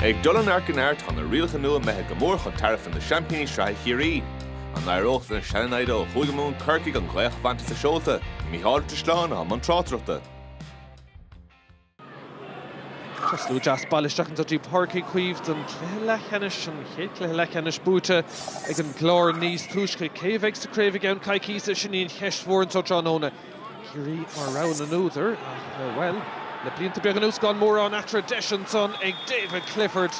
Ag dul an Arc in Aird tá na rialacha nua imithe go mór chun tairbhe na seaimpíní sraithe Ciarraí. An éireoidh lena sean-namhaid ó Chúige Mumhan Corcaigh an ghaoth a bhaint as a seolta? Mícheál Ó Drisleáin i mbun tráchtaireachta. Tá slua deas bailithe isteach anso go dtí Páirc Uí Chaoimh don cluiche leathcheannais an chéad cluiche leathcheannais buaite ag an gClár níos túisce. Cé a bheidh sa craobh i gceann coicíse, sin í an cheist mhór anseo tráthnóna. Ciarraí mar rogha na n-údar ach, bhuel, le blianta beaga anuas gan mórán eatarthu, deis ansan ag David Clifford.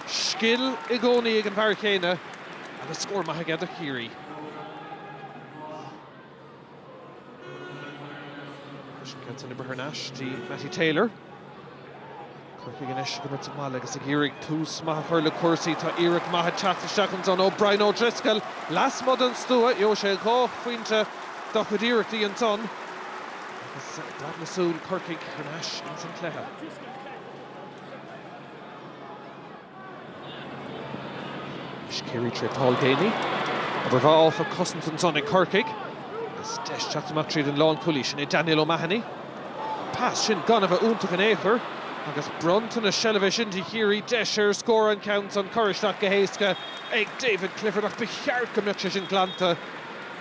Scil i gcónaí ag an bhfear céanna agus scór maith aige do Chiarraí. Freisin, céad san oibre thar n-ais go dtí Mattie Taylor. Corcaigh anois ag imirt sa mbaile agus ag iarraidh tús maith a chur le cúrsaí. Tá iarracht maith ag teacht isteach ansan ó Brian O'Driscoll. Lasmuigh den stua, gheobhaidh sé dhá phointe dá chuid iarrachtaí ansan agus dath na súl Corcaigh thar n-ais insan chluiche. Is Ciarraí trí Paul Geaney. Obair mhaith áfach ag cosaint ansan ag Corcaigh. Is deis teacht amach tríd an lánchúlaí sin é Daniel O'Mahony. Pas sin gan a bheith iontach in aon chor agus bronntanas seilbhe sin do Chiarraí deis ar scór an ceann san cur isteach go héasca ag David Clifford ach ba cheart go mbeadh sé sin glanta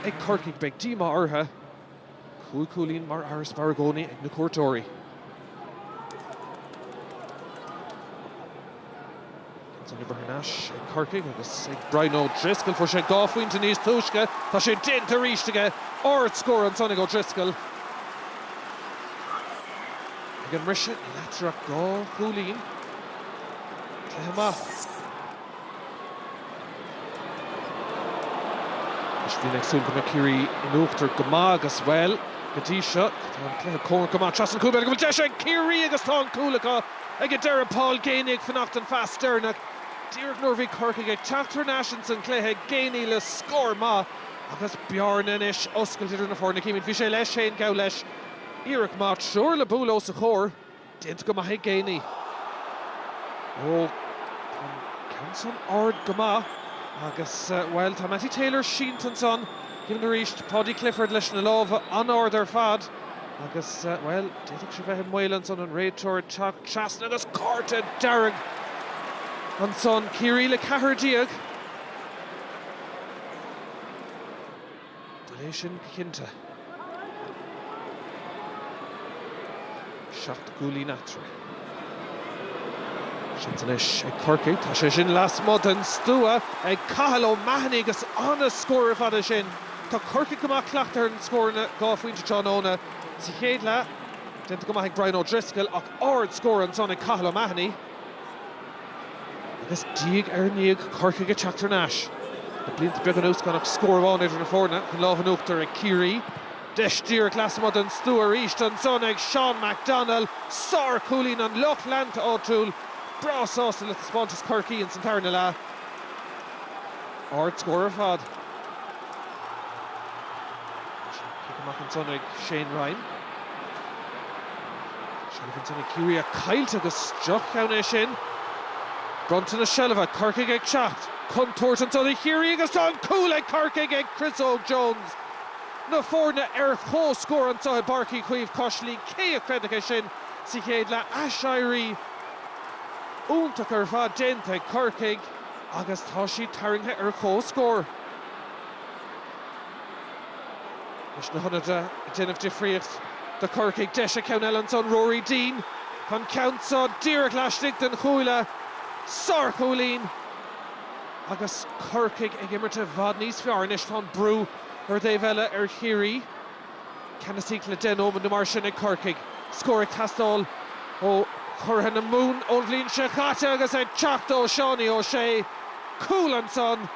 ag Corcaigh. Beidh díomá orthu. Cúig chúilín mar fharasbarr i gcónaí ag na cuairteoirí. Thar n-ais ag Corcaigh agus ag Brian O'Driscoll fuair sé dhá phointe níos túisce. Tá sé déanta arís aige ardscór ansan ag O'Driscoll. Ag an mbriseadh eatarthu dhá chúilín. Cluiche maith. Anois bhínn ag súil go mbeadh Ciarraí in uachtar go maith agus, bhuel, go dtí seo, tá an cluiche cóngarach go maith. Trasna an chúil, b'fhéidir go bhfuil deis ag Ciarraí agus tá an cúl acu ag an deireadh. Paul Geaney ag fanacht don phas deireanach, díreach nuair a bhí Corcaigh ag teacht thar n-ais ins an gcluiche. Geaney le scór maith agus bearna anois oscailte idir na foirne. Címid, bhí sé leis féin geall leis, iarracht maith, triúr le bualadh os a chomhair. Déanta go maith ag Geaney. Ó, tá an ceann san ard go maith agus, bhuel, tá Mattie Taylor sínte ansan. Címid arís Paudie Clifford leis na lámha an-ard ar fad agus, bhuel, d'fhéadfadh sé bheith i mbaol ansan, an réiteoir ag teacht trasna agus cárta dearg ansan. Ciarraí le ceathrar déag. Buille é sin go cinnte. Seacht gcúilín eatarthu. Seans anois ag Corcaigh. Tá sé sin lasmuigh den stua ag Cathal O'Mahony agus an-scór ar fad é sin. Tá Corcaigh go maith cleachtaithe ar na scóranna dhá phointe tráthnóna. Sa chéad leath, déanta go maith ag Brian O'Driscoll ach ard-scór ansan ag Cathal O'Mahony. Agus diaidh ar ndiaidh Corcaigh ag teacht thar n-ais. Le blianta beaga anuas gan ach scór amháin idir na foirne chun lámh in uachtar ag Ciarraí. Deis díreach lasmuigh den stua arís ansan ag Seán McDonnell. Sár-chúilín an lucht leanta áitiúil breá sásta le taispeántas Chorcaigh ins an tarna leath. Ardscór ar fad. Cic amach ansan ag Shane Ryan. Seilbh ansan ag Ciarraí caillte agus droch-cheann é sin. Bronnta na seilbhe, Corcaigh ag teacht. Contúirt ansan do Chiarraí agus tá an cúl ag Corcaigh ag Chris Óg Jones. Na foirne ar comhscór anseo i bPáirc Uí Chaoimh cois Laoi, cé a chreidfeadh é sin sa chéad leath? Aiséirí iontach ar fad déanta ag Corcaigh. agus tá siad tarraingthe ar comhscór anois na hionadaithe ag déanamh difríocht do Chorcaigh. Deis ag ceann eile ansan, Ruairí Deane, tá an ceann seo díreach laistigh den chuaille. Sárchúilín agus Corcaigh ag imirt i bhfad níos fearr anois. Tá an brú ar an dtaobh eile ar Chiarraí. Ceannasaíocht le deich nóiméad nó mar sin ag Corcaigh. Scór ag teastáil ó churaidh na Mumhan ón bhliain seo caite agus ag teacht ó Seánie O'Shea. Cúl ansan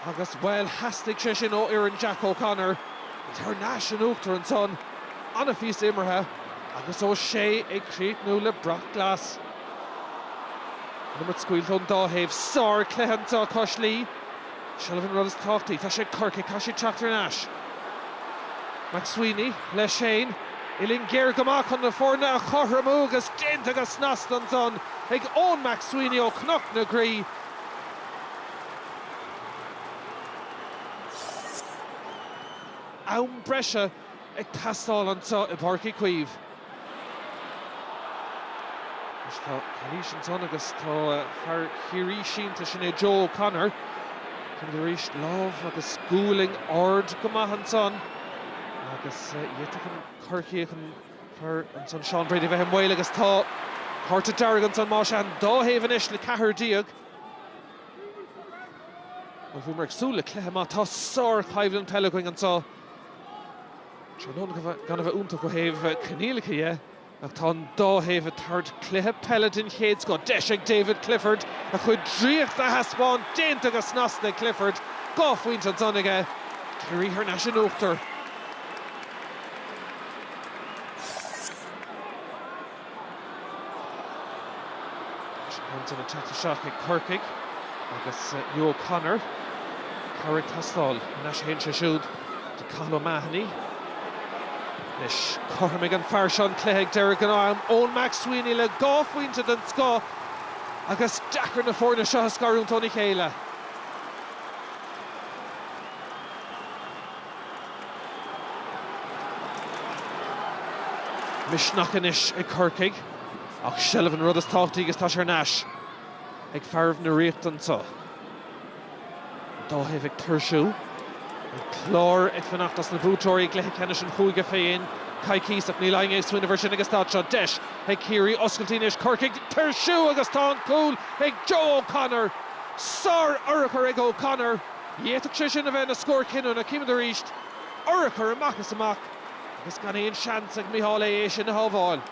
agus, bhuel, theastaigh sé sin ó fhoireann Jack O'Connor. Iad thar n-ais in uachtar ansan, an-phíosa imeartha agus O'Shea ag críochnú le brat glas. Liathróid scaoilte ón dá thaobh. Sárchluiche anseo cois Laoi. Seilbh an rud is tábhachtaí. Tá sé ag Corcaigh, caithfidh siad teacht thar n-ais. McSweeney leis féin. Uillinn géar go maith chun na foirne a chothromú agus déanta go snasta ansan ag Eoin McSweeney ó Chnoc na Graí. Am breise. ag teastáil anseo i bPáirc Uí Chaoimh. Anois tá calaois ansan agus tá fear Chiarraí sínte, sin é Joe O'Connor. Chímid arís, lámh agus gualainn ard go maith ansan agus d'fhéadfadh an Corcaíoch, an fear ansan, Seán Brady a bheith i mbaol agus tá cárta dearg ansan más ea. An dá thaobh anois le ceathrar déag. Bhuel, bhíomar ag súil le cluiche maith. Tá sár-choimhlint peile againn anseo. Tráthnóna gan a bheith iontach ó thaobh coinníollacha dhe ach tá an dá thaobh ag tabhairt cluiche peile den chéad scoth. Deis ag David Clifford a chuid draíochta a thaispeáint, déanta go snasta ag Clifford, dhá phointe ansan aige, Ciarraí thar n-ais in uachtar. Sin ag teacht isteach ag Corcaigh agus Hugh O'Connor cabhar ag teastáil. Thar n-ais a théann sé siúd do Cathal O'Mahony? Anois chothromaigh an fear seo an cluiche ag deireadh gnáth-am, Eoin McSweeney le dhá phointe den scoth agus deacair na foirne seo a scarúint óna chéile. Misneach anois ag Corcaigh ach seilbh an rud is tábhachtaí agus tá sé thar n-ais ag fearaibh na Ríochta anseo. An dá thaobh ag tuirsiú. An Clár ag fanacht as na buaiteoirí i gcluiche ceannais an chúige fé cheann coicís ach níl éinne ag smaoineamh air sin agus táid anseo. Deis ag Ciarraí oscailte anois. Corcaigh ag tuirsiú agus tá an cúl ag Joe O'Connor. Sár-urchar ag O'Connor. D'fhéadfadh sé sin a bheith ina scór cinniúna, címid arís urchar amach is amach agus gan aon seans ag Micheál Aodh é sin a shábháil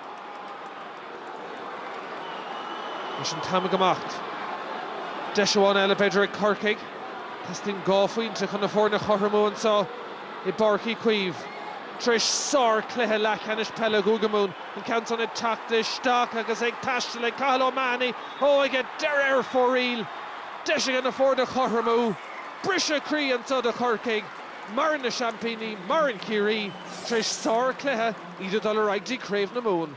Anois an t-am ag imeacht. Deis amháin eile b'fhéidir ag Corcaigh. Teastaíonn dhá phointe chun na foirne a chothromú anseo i bPáirc Uí Chaoimh. Tar éis sár-chluiche leathcheannais peile Chúige Mumhan, an ceann san ag teacht isteach agus ag taisteal ag Cathal O'Mahony, Ó ag a deireadh ar fóraoil, Deis aige na foirne a chothromú. Briseadh croí anseo do Chorcaigh. Maireann na seaimpíní, maireann Ciarraí, tar éis sárchluiche, iad ag dul ar aghaidh go dtí Craobh na Mumhan.